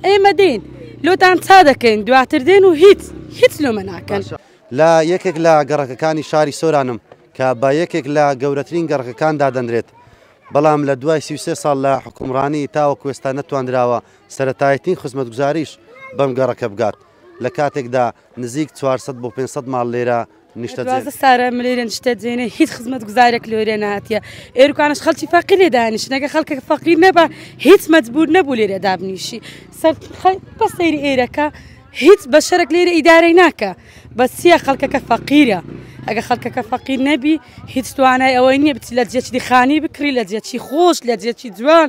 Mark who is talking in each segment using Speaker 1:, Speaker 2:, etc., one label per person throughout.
Speaker 1: ئێمە دێین لۆتان چا دەکەین دواتر دێن و هیچ هیچ لۆمە ناکەن. لە یەکێک
Speaker 2: لە گەڕەکەکانی شاری سۆرانم کە بە یەکێک لە گەورەترین گەڕەکەکان دادەنرێت، بەڵام لە دوای سی و سێ ساڵ لە حوکمڕانی تاوەکو ئێستا نەتواندراوە سەرەتایەتین خزمەتگوزاریش بەم گەڕەکە بگات، لە کاتێکدا نزیک چوار سەد بۆ پێنج سەد ماڵ لێرە نیشتەجێ سارا ملێرە
Speaker 1: نیشتەجێنێ هیچ خزمەتگوزارێک لێرێ ناتە ئێرکانش خەڵکی فەقی لێ دانیشتنەکە خەڵکە فەقی نەبە هیچ مەجبور نەبوو لێرە دابنیشی سەر بە سەیری ئێرەکە هیچ بەشەرەك لێرە ئیدارەی ناکە بەسیە خەڵکەکە فەقیرە ئەگە خەڵکەکە فەقیر نەبی هیچ توانای ئەوەی نییە بچی لە جێچی خانی بکری لە جێچی خۆش لە جێچی جوان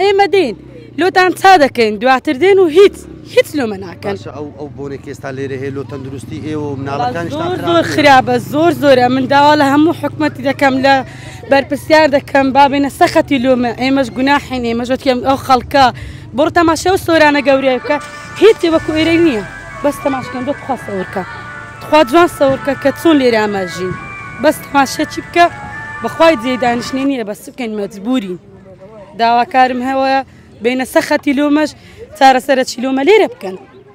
Speaker 1: ئێمە دێین لۆتان چا دەکەین دواتر دێن و هیچ هیچ لۆمە ناکەن ئەو بۆنێکی ئێستا
Speaker 2: لێرە هەیە لۆ تەندروستی ئێوە مناڵەکان زۆر زۆر خراپە
Speaker 1: زۆر زۆرە من داوا لە هەموو حکومەتی دەکەم لە بەرپرسیار دەکەم بابێنە سەخەتی لۆمە ئێمەش گوناحین ئێمەژەتیم ئەو خەڵکە بڕ تەماشە و سۆرانە گەورەیە بکە هیچی وەکو ئێرە نییە بەس تەماشکەم دۆ تخوا سەورکە تخوا جوان سەورکە کە چۆن لێرە ئاماژین بەس تەماشەچی بکە بەخوای جێ دانیشتنی نییە بەس بکەین مەجبوری داواکارم هەوە بینە سە خەتی لۆمەش چارەسەرە چیلۆمە لێرە بکەن.